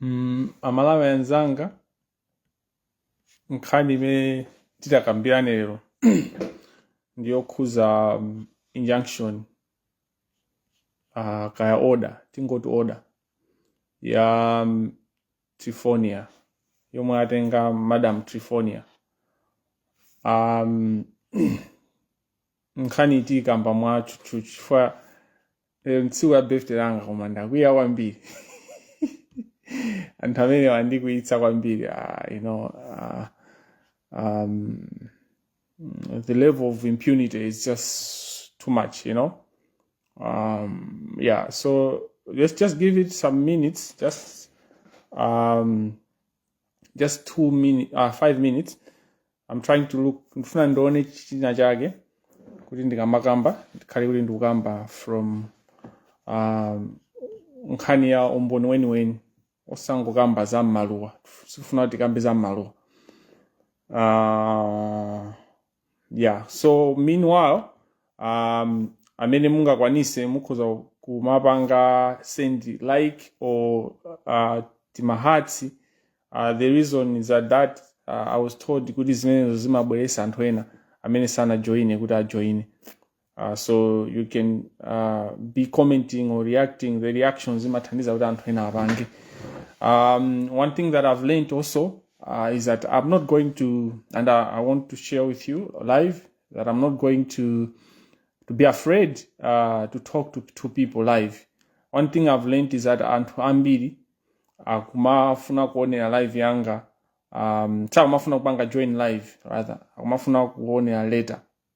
Mm, amalawi anzanga nkhani imene titakambirane lero ndiyokhuza um, injunction uh, kaya order tingoti order ya um, Trifonia yomwe atenga Madam Trifonia um, nkhani tiikamba mwa tchutchutchu chifukwa lero tsiku la birthday langa koma ndakwiya kwambiri anthu amene andikwiyitsa kwambiri ah, you know, ah, um, mm, the level of impunity is just too much, you know. Um, yeah, so let's just give it some minutes, just um, just two minutes, uh, five minutes. I'm trying to look ndifuna ndione china chake kuti ndikamakamba ndikhale kuti ndikukamba from um, nkhani ya umboni weniweni osangokamba za mmaluwa sikufuna kuti tikambe za mmaluwa uh, yeah so meanwhile um, amene mungakwanise mukhoza kumapanga send like or uh, tima hearts uh, the reason is that, that uh, i was told kuti zimenezo zimabweresa anthu ena amene sanajoine kuti ajoine uh, so you can uh, be commenting or reacting the reactions zimathandiza kuti anthu ena apange um, one thing that i've learned also uh, is that i'm not going to and I, i want to share with you live that i'm not going to to be afraid uh, to talk to, to people live one thing i've learned is that anthu ambiri akumafuna kuonera live yanga um, sakumafuna kupanga join live rather akumafuna kuonera later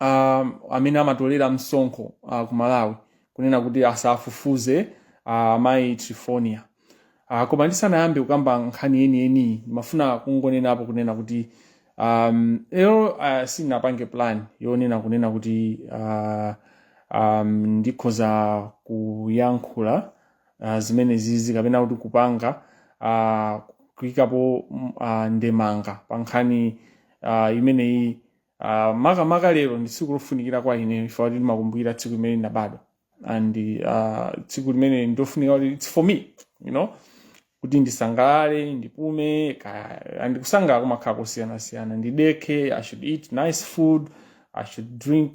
uh, amene amatolera msonkho uh, ku malawi kunena kuti asafufuze uh, amayi trifonia uh, koma ndisanayambe kukamba nkhani yeniyeniyi ndimafuna kungonenapo kunena kuti um, lero uh, sinapange plan yonena kunena kuti uh, um, ndikhoza kuyankhula uh, zimenezizi kapena kuti kupanga uh, kuyikapo mm, uh, ndemanga pa nkhani uh, imeneyi Uh, makamaka lero ndi tsiku lofunikira kwa ine chifukwa kuti ndimakumbukira tsiku limene ndinabadwa and uh, tsiku limene ndofunika kuti it's for me you know kuti ndisangalale ndipume ka- and kusangalala kumakhala kosiyanasiyana ndidekhe i should eat nice food i should drink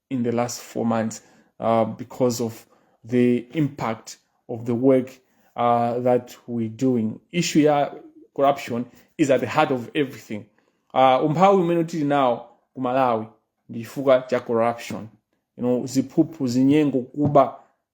in the last four months uh, because of the impact of the work uh, that we're doing. Issue ya corruption is at the heart of everything. Uh, umphawi umene tili nawo ku Malawi ndi chifukwa cha corruption. You know, ziphuphu, zinyengo, kuba,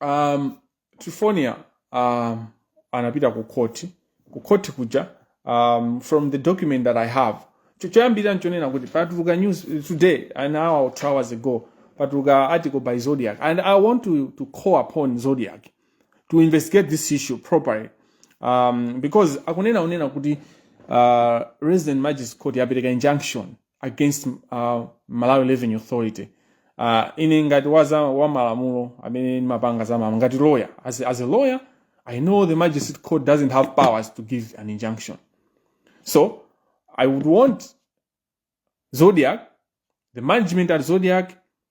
um, trifonia um, anapita ku khoti ku khoti kuja um, from the document that i have Cho- choyambirira nchonena kuti patuluka news eh, today an hour or two hours ago patuluka article by zodiac and i want to, to call upon zodiac to investigate this issue properly um, because akunena kunena kuti uh, resident magistrate court yapereka injunction against uh, malawi revenue authority uh, ine ngati wa zamalamulo amene ndimapanga za malamulo ngati lawyer as, as a lawyer i know the magistrate court doesn't have powers to give an injunction so i would want zodiac the management at zodiac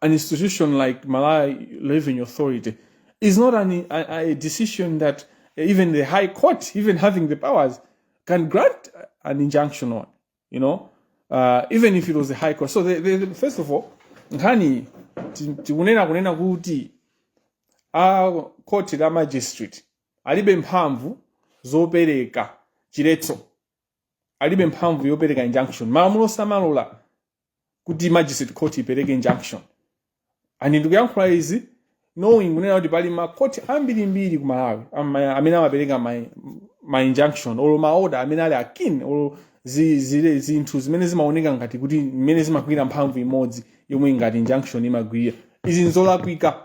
an institution like Malawi Revenue Authority is not an, a, a decision that even the High Court, even having the powers, can grant an injunction on, you know, uh, even if it was the High Court. So, the, the, first of all, nkhani tikunena kunena kuti court la magistrate alibe mphamvu zopereka chiletso alibe mphamvu yopereka injunction malamulo samalola kuti magistrate court ipereke injunction and ndikuyankhula izi knowing kunena kuti pali makoti ambirimbiri ku malawi ama- amene amapereka ma, ma injunction or maoda amene ali akin or zi- zile- zinthu zimene zimaoneka ngati kuti zimene zimagwira mphamvu imodzi yomwe ngati injunction imagwira izi nzolakwika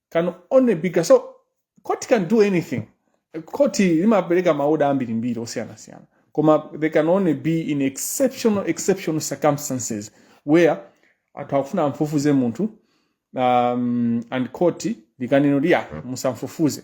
can only be ga- so court can do anything court limapereka maoda ambirimbiri osiyanasiyana koma they can only be in exceptional exceptional circumstances where anthu akufuna amfufuze munthu um, and court likanena kuti ya musamfufuze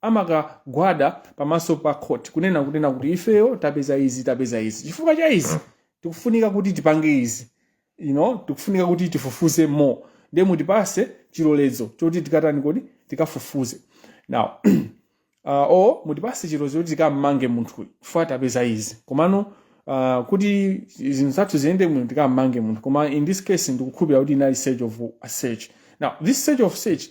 amakagwada pamaso pa court kunena kunena kuti ifeyo tapeza izi tapeza izi chifukwa cha izi tikufunika kuti tipange izi you know tikufunika kuti tifufuze more ndiye mutipase chilolezo choti tikatani kodi tikafufuze now uh, o mutipase chilolezo choti tikammange munthuyu chifukwa tapeza izi komano uh, kuti zinthu zathu ziyende bwino tikammange munthu koma in this case ndikukhulupira kuti inali search, office search now this search, office search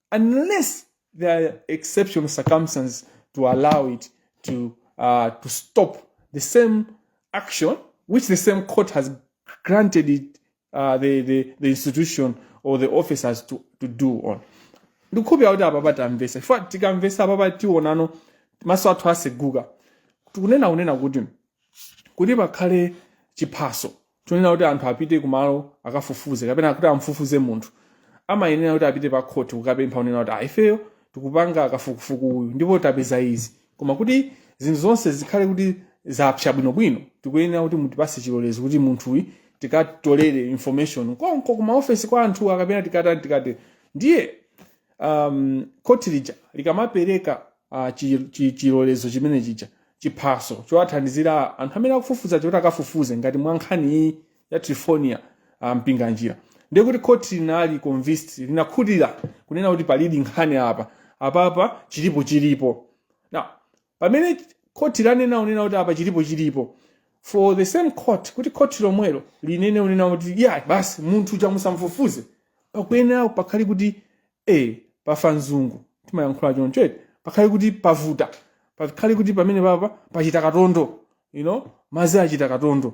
unless there are exceptional circumstances to allow it to uh, to stop the same action which the same court has granted it uh, the, the, the institution or the officers to, to do on ndikukhupira kuti apapa tamvesa chifukwa tikamvesa apapa tionano maso athu aseguka tikunena kunena kuti kuti pakhale chiphaso chonena kuti anthu apite kumalo akafufuze kapena kuti amfufuze munthu amayenera kuti apite pa khoti kukapempha unena kuti ayi ifeyo tikupanga kafukufuku uyu ndipo tapeza izi koma kuti zinthu zonse zikhale kuti zapsa bwinobwino tikuyenera kuti mutipase chilolezo kuti munthuyi tikatolere information konko kuma ofesi kwa anthuwa kapena tikatani tikati ndiye um, khoti lija likamapereka ah, chi- chi- chilolezo chimene chija chiphaso chowathandizira anthu amene akufufuza choti akafufuze ngati mwa nkhani iyi ya trifonia ah, Mpinganjira ndiye kuti khoti linali convinced linakhutira kunena kuti palidi nkhani apa apapa chilipo chilipo now pamene khoti lanena unena kuti apa chilipo chilipo for the same court kuti khoti lomwelo linene unena kuti ya basi munthu chamusamfufuze pakuyenera pakhale kuti ee pafa mzungu timayankhula choncho eti pakhale kuti pavuta pakhale kuti pamene papa pachita katondo you know mazi achita katondo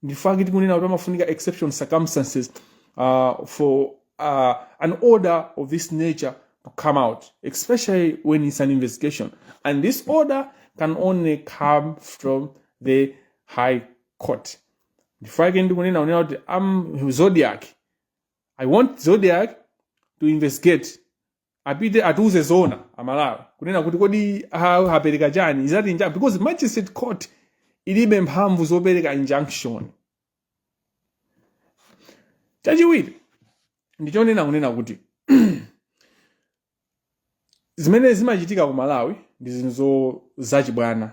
nchifake tikunena kuti amafunika exception circumstances uh, for uh, an order of this nature to come out especially when it's an investigation and this order can only come from the high court nchifake ndikunena unena kuti am Zodiak i want Zodiak to investigate apite atiuze zoona amalawi kunena kuti kodi a- apereka chani is it inja- because magistrate court ilibe mphamvu zopereka injunction chachiwiri ndichonena kunena kuti zimene zimachitika ku malawi ndi zinthu zo- zachibwana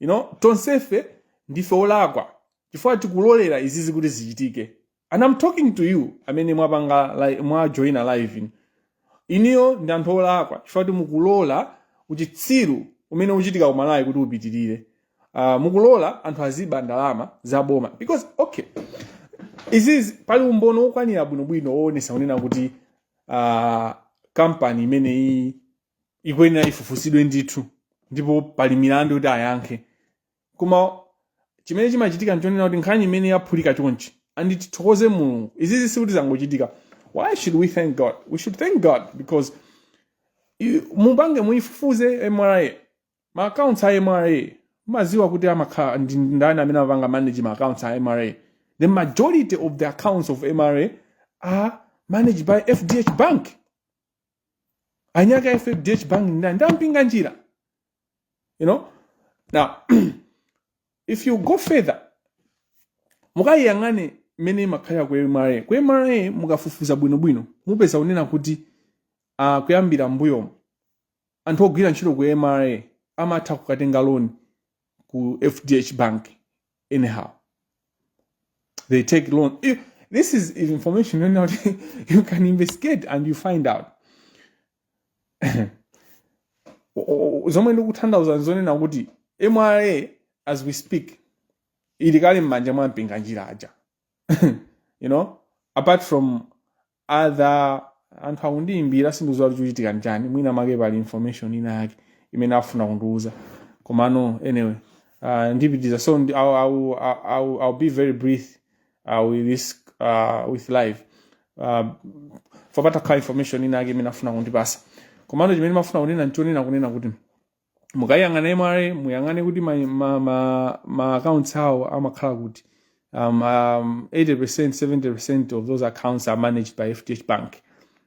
you know tonsefe ndife olakwa chifukwa tikulolera izizi kuti zichitike and i'm talking to you amene mwapanga li- mwajoina live inuyo ndi anthu olakwa chifukwa kuti mukulola uchitsiru umene uchitika kumalawi kuti upitirire uh, mukulola anthu azibe ndalama za boma because okay izizi pali umboni wokwanira bwinobwino woonesa kunena kuti uh, kampani imeneyi ikuyenera ifufuzidwe ndithu ndipo pali milandu yoti ayankhe koma chimene chimachitika nchonena kuti nkhani imene yaphulika chonchi and tithokoze mulungu izizi sikuti zangochitika why should we thank god we should thank god because i- mupange muifufuze mra ma accounts a mra mumadziwa kuti amakhala ndi ndani amene amapanga manage ma accounts a mra the majority of the accounts of mra are managed by fdh bank eni ake a fdh bank ndani ndi a Mpinganjira you know now if you go further mukayiyang'ane mmene imakhalira ku mra ku mra mukafufuza bwinobwino mupeza kunena kuti uh, kuyambira mbuyomo anthu ogwira ntchito ku mra amatha kukatenga loni ku fdh bank anyhow. They take loan. If, this is information yonena kuti you can investigate and you find out. zomwe ndikutanthauza nzonena kuti mra as we speak ili kale m'manja mwa mpinganjira aja you know apart from other anthu akundiyimbira sindidziwa chikuchitika nchani mwina make pali information ina yake imene afuna kundiuza komano anyway uh, ndipitiza so ndi, I'll, I'll, I'll, I'll be very brief uh, with this uh, with live uh, kwa pangakhale information ina yake imene afuna kundipasa komano chimene ndimafuna kunena nchonena kunena kuti mukayang'ana mra muyang'ane kuti ma, ma, ma, ma accounts awo amakhala kuti um, um, 80% 70% of those accounts are managed by fdh bank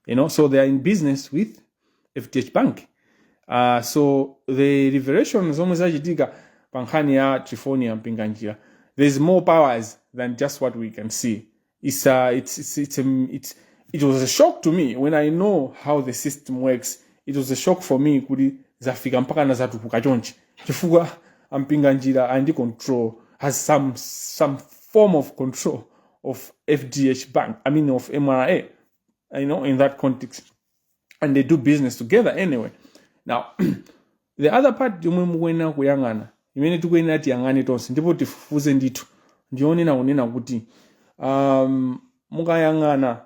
you know so they are in business with fdh bank uh, so the revelation zomwe zachitika pa nkhani ya Triphonia Mpinganjira there's more powers than just what we can see it's uh, it's it's it's, um, it's it was a shock to me when i know how the system works it was a shock for me kuti zafika mpaka na zatukuka chonchi chifukwa ampinga njira ali ndi control has some some form of control of fdh bank i mean of mra you know in that context and they do business together anyway now the other part yomwe mukuyenera kuyang'ana imene tikuyenera tiyang'ane tonse ndipo tifufuze ndithu ndiyonena kunena kuti um, mukayang'ana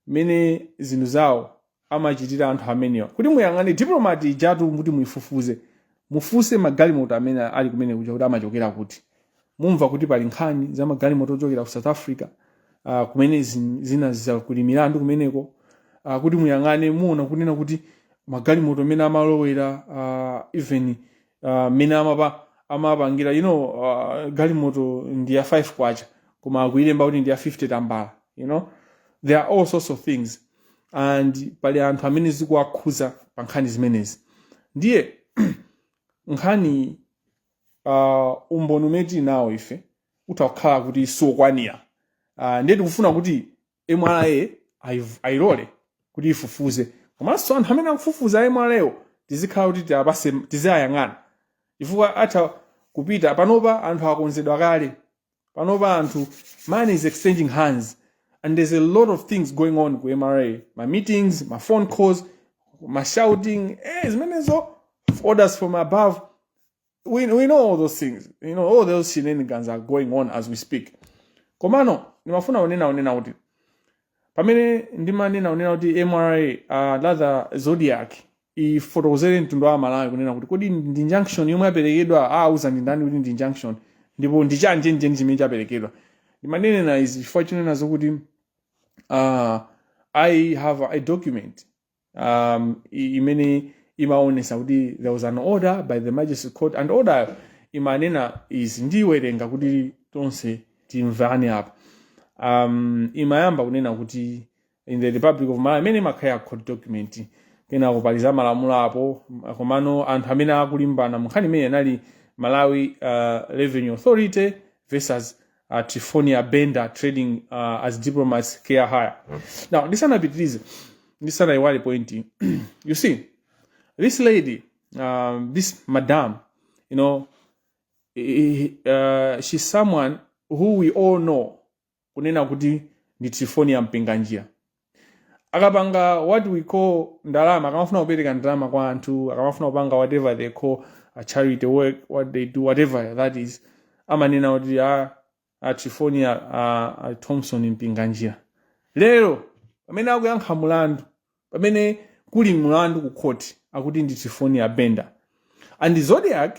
mmene zinthu zawo amachitira anthu amenewa kuti muyang'ane diplomati ijatu kuti muifufuze Mufufuze magalimoto amene ali kumene kuja kuti amachokera kuti. Mumva kuti pali nkhani za magalimoto ochokera ku South Africa uh, kumene zin- zina zakuli milandu kumeneko uh, kuti muyang'ane muona kunena kuti magalimoto mmene amalowera uh, even mmene uh, amapa amapangira you know uh, galimoto ndi ya 5 kwacha koma akuilemba kuti ndi ya 50 tambala you know there are all sorts of things and pali anthu amene zikuwakhuza pa nkhani zimenezi ndiye nkhani uh, umboni umene tili nawo ife utha kukhala kuti siwokwanira uh, ndiye tikufuna kuti mra ayiv- ayilole kuti ifufuze komanso anthu amene akufufuza mrawo tizikhala kuti tiwapatse tiziwayang'ana chifukwa atha kupita panopa anthu akonzedwa kale panopa anthu money is exchanging hands and there's a lot of things going on ku mra ma meetings ma phone calls ma shouting eh, zimenezo orders from above we, we know all those things you know all those shenanigans are going on as we speak komano ndimafuna kunena kunena kuti pamene ndimanena kunena kuti mra uh, rather Zodiak ifotokozere mtundu wa amalawi kunena kuti kodi ndi injunction yomwe yaperekedwa auza ndi ndani kuti ndi injunction ndipo ndi chani chenicheni chimene chaperekedwa ndimanena izi chifukwa chonena zokuti uh, i have a document um, i- imene imaonesa kuti there was an order by the magistrate court and order imanena izi ndiwerenga kuti tonse timvane apa um, imayamba kunena kuti in the republic of malawi imene imakhala ya court document kenako pali za malamulo apo komano anthu amene akulimbana munkhani imene anali malawi uh, revenue authority versus uh, triphornia bender trading uh, as diplomats car hire now ndisanapitirize ndisanayiwale point iyi you see this lady um, this madam you know i- i- uh, she's someone who we all know kunena kuti ndi triphornia mpinganjira akapanga what we call ndalama akamafuna kupereka ndalama kwa anthu akamafuna kupanga whatever they call a charity work what they do whatever that is amanena kuti a, a triphornia a, a thompson mpinganjira lero pamene akuyankha mulandu pamene kuli mulandu ku court akuti ndi triphornia bender and zodiak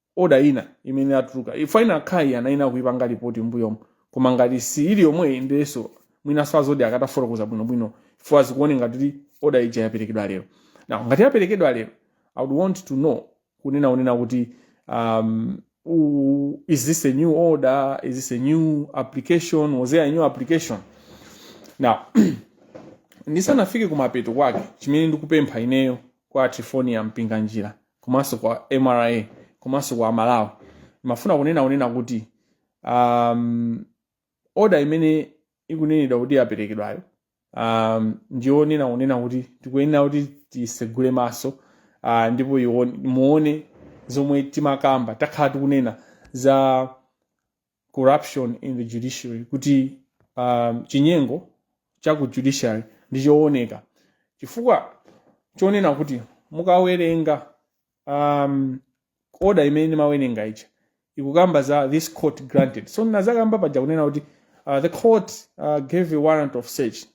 oda ina imene atuluka ifo ina kaya anayenera kuipanga lipoti mbuyomu koma ngati si ili yomweyi ndiyenso mwinanso a zodiak atafotokoza bwinobwino ifo zikuoneka ngati kuti oda ija yaperekedwa lero now ngati yaperekedwa lero i would want to know kunena kunena kuti um, u- is this a new order is this a new application was there a new application now ndisanafike kumapeto kwake chimene ndikupempha ineyo kwa a triphornia mpinganjira komanso kwa mra komanso kwa amalawi ndimafuna kunena kunena kuti um, oda imene ikunenedwa kuti yaperekedwayo um, ndiyonena kunena kuti tikuyenera kuti tisegule maso uh, ndipo iwo- muone zomwe timakamba takhala tikunena za corruption in the judiciary kuti um, chinyengo cha ku judiciary ndi chooneka chifukwa chonena kuti mukawerenga um, order imene ndimawerenga ija ikukamba za this court granted so ndadzakamba paja kunena kuti uh, the court uh, gave a warrant of search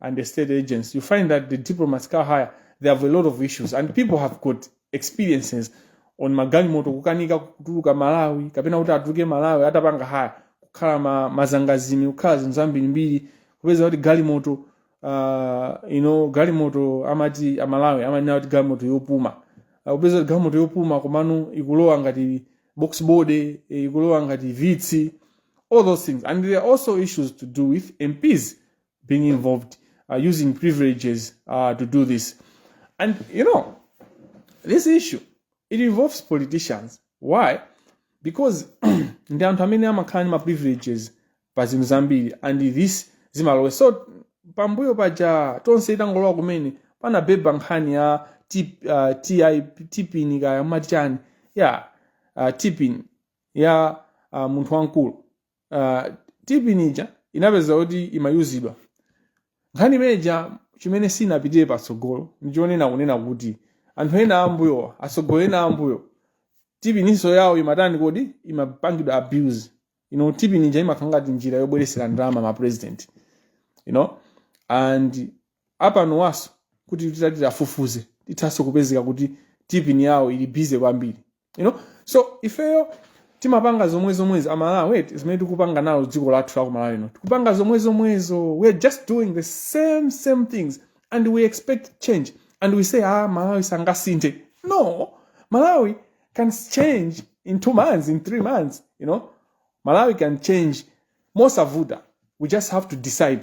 and the estate agents, you find that the diplomats car hire, they have a lot of issues and people have got experiences on magalimoto kukanika kutuluka malawi kapena kuti atuluke malawi atapanga haya kukhala ma, mazangazime kukhala zinthu zambirimbiri kupeza kuti galimoto uh, you know, galimoto amati amalawi amanena kuti galimoto yopuma uh, kupeza kuti galimoto yopuma komano ikulowa ngati box body eh, ikulowa ngati vitz all those things and there are also issues to do with mps being involved, uh, using privileges uh, to do this. And you know, this issue it involves politicians. Why? Because ndi anthu amene amakhala ndi ma privileges pa zinthu zambiri and this zimalowanso pambuyo paja tonse itangolowa kumene panabwera nkhani ya T- uh, TI tipini kaya matichani ya uh, tipini ya uh, munthu wamkulu uh, TPIN ija inapezeka kuti imayuzidwa nkhani imeneja chimene sinapitire patsogolo ndichonena kunena kuti anthu ena ambuyowa atsogoleri ena ambuyo TPIN-nso yawo imatani kodi imapangidwa abuse you know TPIN ija imakhala ngati njira yobweresera ndalama ma president you know and apanowanso kuti titati tifufuze tithanso kupezeka kuti TPIN yawo ili busy kwambiri you know so ifeyo timapanga zomwe zomwezo amalawi eti zimene tikupanga nalo dziko lathu la kumalawi lino tikupanga zomwe zomwezo we are just doing the same same things and we expect change and we say ah malawi sangasinthe no malawi can change in two months in three months you know malawi can change mosavuta we just have to decide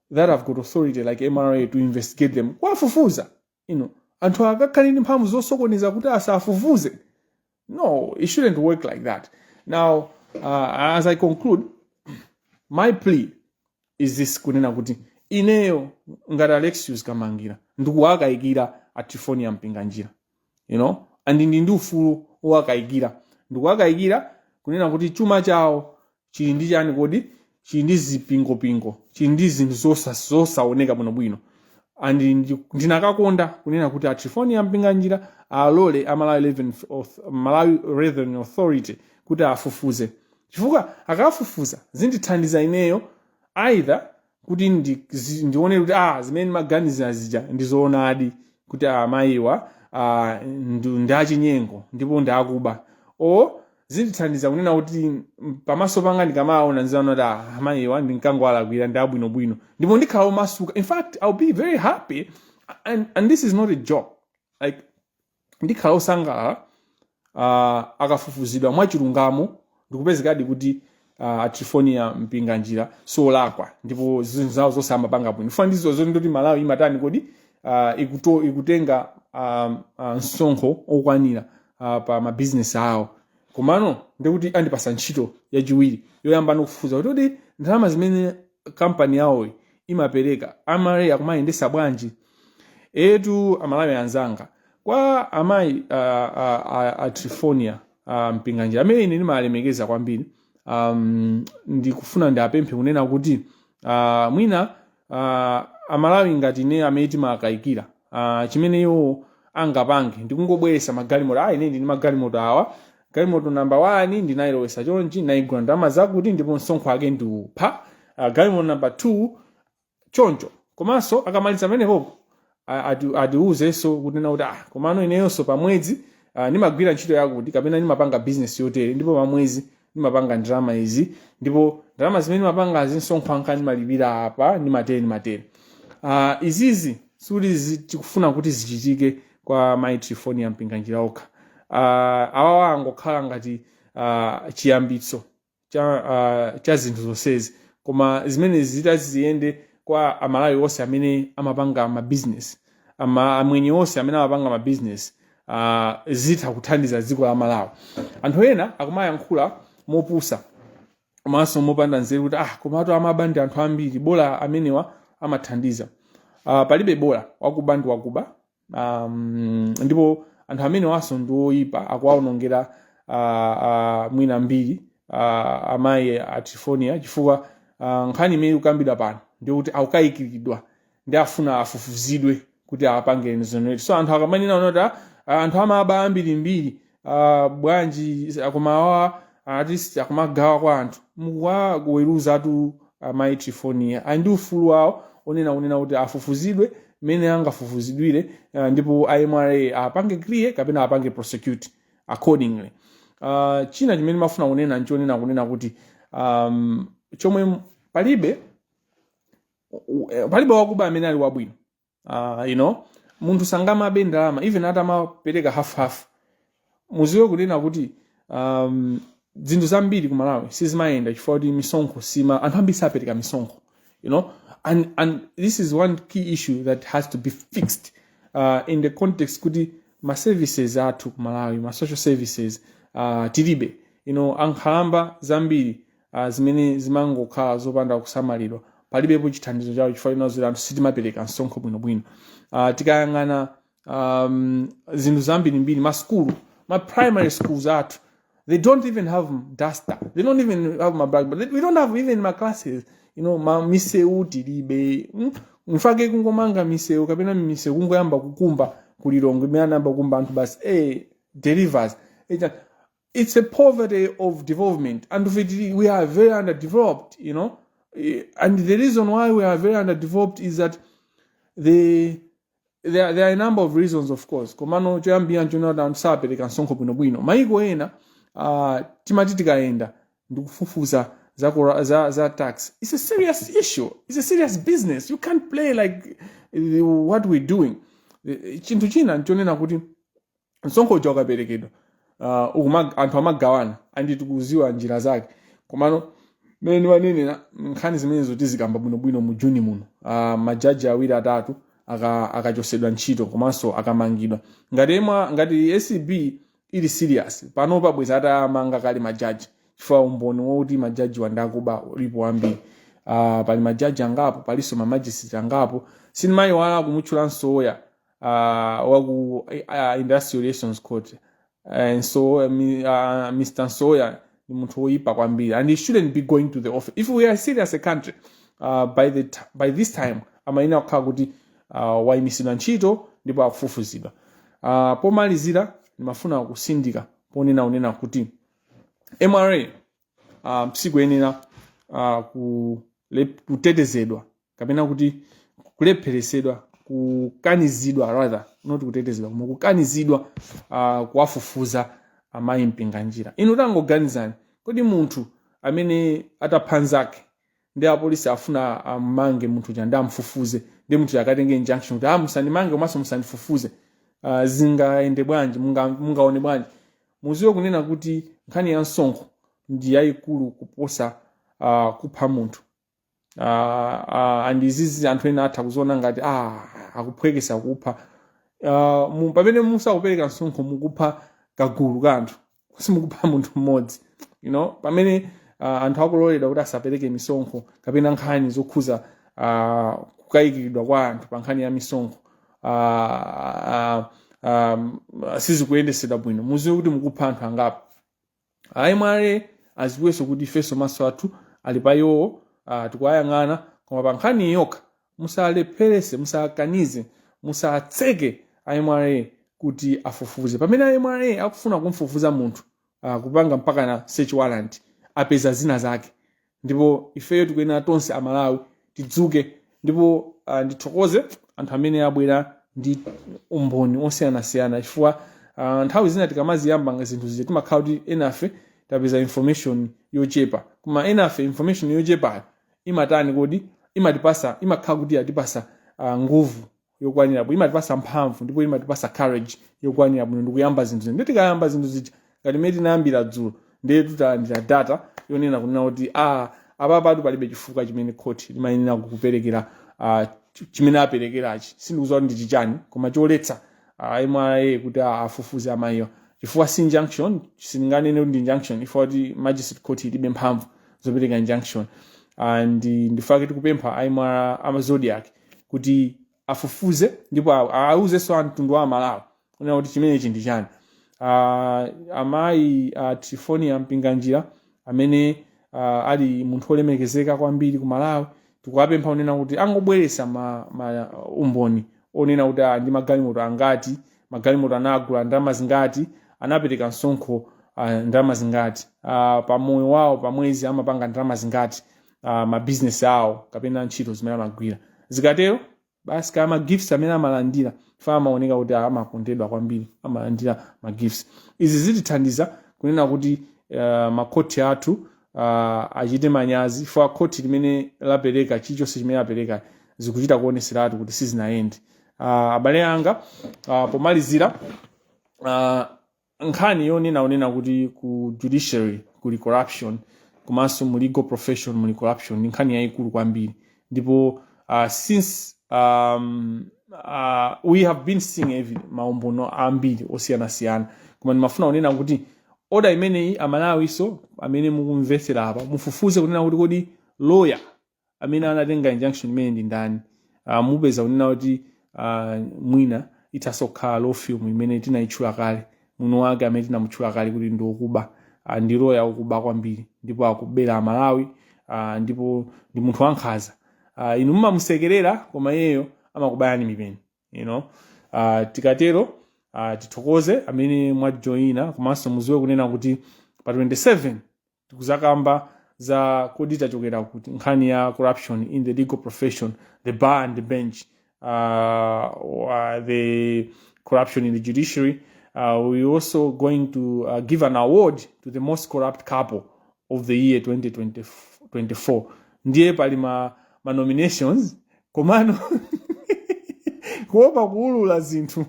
that have got authority like mra to investigate them kuwafufuza you know anthu akakhala ndi mphamvu zosokoneza kuti asafufuze no it shouldn't work like that now uh, as i conclude my plea is this kunena kuti ineyo ngati alexius kamangila ndikuwakayikira a trifonia mpinganjira you know and ndili ndi ufulu wowakayikira ndikuwakayikira kunena kuti chuma chawo chili ndi chani kodi chili ndi zipingopingo chili ndi zinthu zosa- zosaoneka bwinobwino and ndi- ndinakakonda kunena kuti a trifonia mpinganjira alole a malawi Revenue Auth- malawi revenue authority kuti afufuze chifukwa akafufuza zindithandiza ineyo either kuti ndi- zi- ndione kuti ah, zimene ndimaganiza zija ndi zoonadi kuti ah, mayiwa ah, ndu- ndi achinyengo ndipo ndi akuba or zindithandiza kunena kuti mm, pamaso panga ndikamawaona ndiziona kuti ah, mayiwa ndinkangowalakwira ndi abwinobwino ndipo ndikhala omasuka in fact i'll be very happy and, and this is not a joke like ndikhala osangalala uh, akafufuzidwa mwachilungamo ndikupezekadi kuti uh, a trifonia mpinganjira si olakwa ndipo zinthu zawo zonse amapanga bwino zofuna ndizo zoti ndoti malawi imatani kodi uh, ikuto, ikutenga um, uh, msonkho okwanira uh, pa mabizinesi awo komano ndikuti andipasa ntchito yachiwiri yoyamba ndikufufuza kuti kuti ndalama zimene kampani yawoyi imapereka a MRA akumayendetsa bwanji eetu amalawi anzanga kwa amayi a, a, a, a trifonia a mpinganjira amene ine ndimawalemekeza kwambiri um, ndikufuna ndiwapemphe kunena kuti uh, mwina uh, amalawi ngati ine amene timawakayikira uh, chimene iwo angapange ndikungobweresa magalimoto ah ine ndili ndi magalimoto awa galimoto namba 1 ndinayilowesa chonchi ndinayigula ndalama zakuti ndipo msonkho wake ndi uwu uh, galimoto namba 2 choncho komanso akamaliza pamenepopo atiwuzenso kunena kuti ah komano ineyonso pamwezi uh, ndimagwira ntchito yakuti kapena ndimapanga bizinesi yotere ndipo pamwezi ndimapanga ndalama izi ndipo ndalama zimene ndimapangazi nsonkho wanga ndimalipira apa ndimatere ndimatere uh, izizi sikuti zi- tikufuna kuti zichitike kwa mai trifonia mpinganjira okha uh, awawa angokhala ngati uh, chiyambitso cha, uh, cha zinthu zonsezi koma zimenezi zitati ziyende kwa amalawi onse amene amapanga mabizinesi ama amwenye onse amene amapanga mabizinesi uh, zitha kuthandiza dziko la Malawi anthu ena akumayankhula mopusa komanso mopanda nzeru kuti ah komatu amaba ndi anthu ambiri bola amenewa amathandiza uh, palibe bola wakuba ndi wakuba um, ndipo anthu amenewanso ndi oyipa akuwaonongera uh, uh, mwina mbiri uh, amayi a Trifonia chifukwa uh, nkhani imene ikukambidwa pano ndikuti akukayikiridwa nde afuna afufuzidwe kuti apange exonerate so anthu akamanena onena kuti "Ah, ah, anthu amaba ambirimbiri ah, bwanji akoma awa at least akumagawa kwa anthu mukuwaweruzatu amai trifonia ali ndi ufulu wawo onena kunena kuti afufuzidwe mmene angafufuzidwire ah, ndipo a mra apange clear kapena apange prosecute accordingly Ah, china chimene mafuna kunena nchonena kunena kuti um, chomwe palibe u- eh, palibe wakuba amene ali wabwino uh, you know munthu sangamabe ndalama even atamapereka half half muziwe kunena kuti um, zinthu zambiri ku malawi sizimayenda chifukwa kuti misonkho sima anthu ambiri sapereka misonkho you know and, and this is one key issue that has to be fixed uh, in the context kuti ma services athu ku malawi ma social services uh, tilibe you know ankhalamba zambiri uh, zimene zimangokhala zopanda kusamalidwa palibepo chithandizo chawo chifukwa cha ife anthu sitimapereka msonkho bwinobwino uh, tikayang'ana um, zinthu zambirimbiri masukulu ma primary schools athu they don't even have duster they don't even have ma blackboard we don't have even ma classes you know ma misewu tilibe mm? mpake kungomanga misewu kapena misewu kungoyamba kukumba ku lilongwe imene anayamba kukumba anthu basi eh delivers Echa, it's a poverty of development and we, we are very underdeveloped you know Eh, and the reason why we are very underdeveloped is that the there, are- there are a number of reasons of course komano choyambira nchonati anthu sapereka msonkho bwinobwino maiko ena uh, timati tikayenda ndikufufuza za, kora- za, za tax it's a serious issue it's a serious business you can't play like eh, what we're doing Eh, chinthu china nchonena kuti msonkho uja ukaperekedwa uh, ukuma- anthu amagawana and tikuziwa njira zake komano mmene ndimanenera nkhani zimenezo tizikamba bwinobwino mu juni muno uh, majaji awiri atatu aka- akachosedwa ntchito komanso akamangidwa ngati mwa ngati acb ili serious pano bwenzi atamanga kale majaji chifukwa umboni woti majaji awa ndi akuba ulipo wambiri uh, pali majaji angapo palinso mamajisitireti angapo sindimayiwala kumutchula nsoya uh, wa ku uh, industrial relations court uh, and so uh, mi- uh, mr nsoya ni munthu woyipa kwambiri and he shouldn't be going to the office if we are serious as a country uh, by, the t- by this time amayenera kukhala kuti uh, wayimitsidwa ntchito ndipo akufufuzidwa uh, pomalizira ndimafuna kusindika ponena unena kuti mra uh, sikuyenera uh, kule- kutetezedwa kapena kuti kulepheresedwa kukanizidwa rather not kutetezedwa koma kukanizidwa uh, kuwafufuza amayi mpinganjira inu tangoganizani kodi munthu amene atapha nzake ndi apolisi afuna amange munthu uja ndi amfufuze nde munthu uja akatenge injunction kuti ah musandimange komanso musandifufuze uh, zingayende bwanji munga- mungaone bwanji muziwe kunena kuti nkhani ya msonkho ndi yayikulu kuposa uh, kupha munthu Ah, ah, and izizi anthu ena atha kuziona ngati ah, akuphwekesa kupha Ah, mu- pamene musakupereka msonkho mukupha kagulu ka anthu simukupha munthu mmodzi you know pamene ah, anthu akuloledwa kuti asapereke misonkho kapena nkhani zokhuza ah, kukayikiridwa kwa anthu pa nkhani ya misonkho ah, ah, ah, sizikuyendesedwa bwino muziwe kuti mukupha anthu angapo a mra aziwenso kuti ifenso maso athu ali pa iwowo uh, tikuwayang'ana koma pa nkhani iyi yokha musalepherese musakanize musatseke a mra kuti afufuze pamene a mra akufuna kumfufuza munthu uh, kupanga mpaka na search warrant apeza zina zake ndipo ifeyo tikuyenera tonse amalawi tidzuke ndipo uh, ndithokoze anthu amene abwera ndi umboni osiyanasiyana chifukwa uh, nthawi zina tikamaziyamba zinthu zija timakhala kuti enafe tapeza information yochepa koma enafe information yochepayo imatani kodi imatipasa imakhala kuti yatipasa uh, nguvu yokwanira bwino imatipasa mphamvu ndipo imatipasa courage yokwanira bwino ndikuyamba zinthu zino nde tikayamba zinthu zija ngati mmene tinayambira dzulo ndiye tutalandira data yonena kunena kuti a apapatu palibe chifukwa chimene khoti limayenera kuperekera ah, ch- chimene aperekerachi sindikudziwa kuti ndi chichani koma choletsa ah, mra kuti ah, afufuze amayiwa chifukwa si injunction sindinganene kuti ndi injunction chifukwa choti magistrate court ilibe mphamvu zopereka injunction and nchifukwa chake tikupempha awa a zodiac kuti afufuze ndipo a- auzenso mtundu wa amalawi kunena kuti chimenechi ndi chani Ah, amayi a trifonia mpinganjira amene ah, ali munthu olemekezeka kwambiri ku malawi tikuwapempha kunena kuti angobweresa ma, ma umboni onena kuti ah, ndi magalimoto angati magalimoto anagula ndalama zingati anapereka msonkho ah, ndalama zingati ah, pa moyo wawo pa mwezi amapanga ndalama zingati uh, mabizinesi awo kapena ntchito zimene amagwira zikatero basi kaya magifts amene amalandira fa amaoneka kuti amakondedwa kwambiri amalandira magifts izi zitithandiza kunena kuti makhoti athu uh, achite manyazi for khoti limene lapereka chilichonse chimene lapereka zikuchita kuoneseratu kuti sizinayende uh, abale anga uh, pomalizira uh, nkhani yonena onena kuti ku judiciary kuli corruption komanso mu legal profession muli corruption ndi nkhani yayikulu kwambiri ndipo uh, since um, uh, we have been seeing evi- maumboni ambiri osiyanasiyana koma ndimafuna kunena kuti oda imeneyi aMalawinso amene mukumvetsera apa mufufuze kunena kuti kodi lawyer amene anatenga injunction imeneyi ndi ndani uh, mupeza kunena kuti uh, mwina ithanso kukhala law firm imene tinayitchula kale mwini wake amene tinamutchula kale kuti ndi okuba uh, ndi loya okuba kwambiri ndipo akubera aMalawi uh, ndipo ndi munthu wankhanza uh, inu mumamusekerera koma iyeyo amakubayani mipeni you know? uh, tikatero uh, tithokoze amene mwajoyina komanso mudziwe kunena kuti pa 27 tikudzakamba za kodi tachokera kuti nkhani ya corruption in the legal profession the bar and the bench uh, uh, the corruption in the judiciary uh, we also going to uh, give an award to the most corrupt couple of the year 2024 ndiye pali ma, ma nominations komano kuopa kuulula zinthu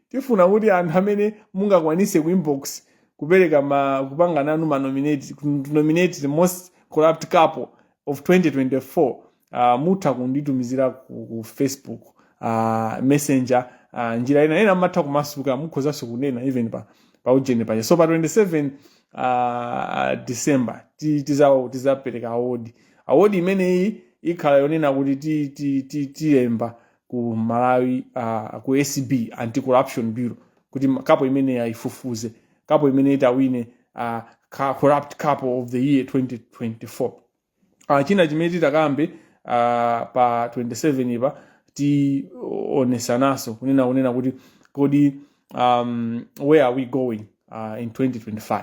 tifuna kuti anthu amene mungakwanise ku inbox kupereka ma kupanganano ma nominate to nominate the most corrupt couple of 2024 uh, mutha kunditumizira ku, ku facebook uh, messenger uh, njira ina ena mumatha kumasuka mukhozanso kunena even pa pa ujeni paja so pa 27 uh, december ti- tidza- tidzapereka award award imeneyi ikhala yonena kuti ti- ti- ti- tilemba ku Malawi uh, ku acb anti corruption bureau kuti ma- couple imeneyi ayifufuze couple imene itawine uh, ka- corrupt couple of the year 2024 uh, china chimene titakambe uh, pa 27 apa tionetsananso kunena kunena kuti kodi um, where are we going uh, in 2025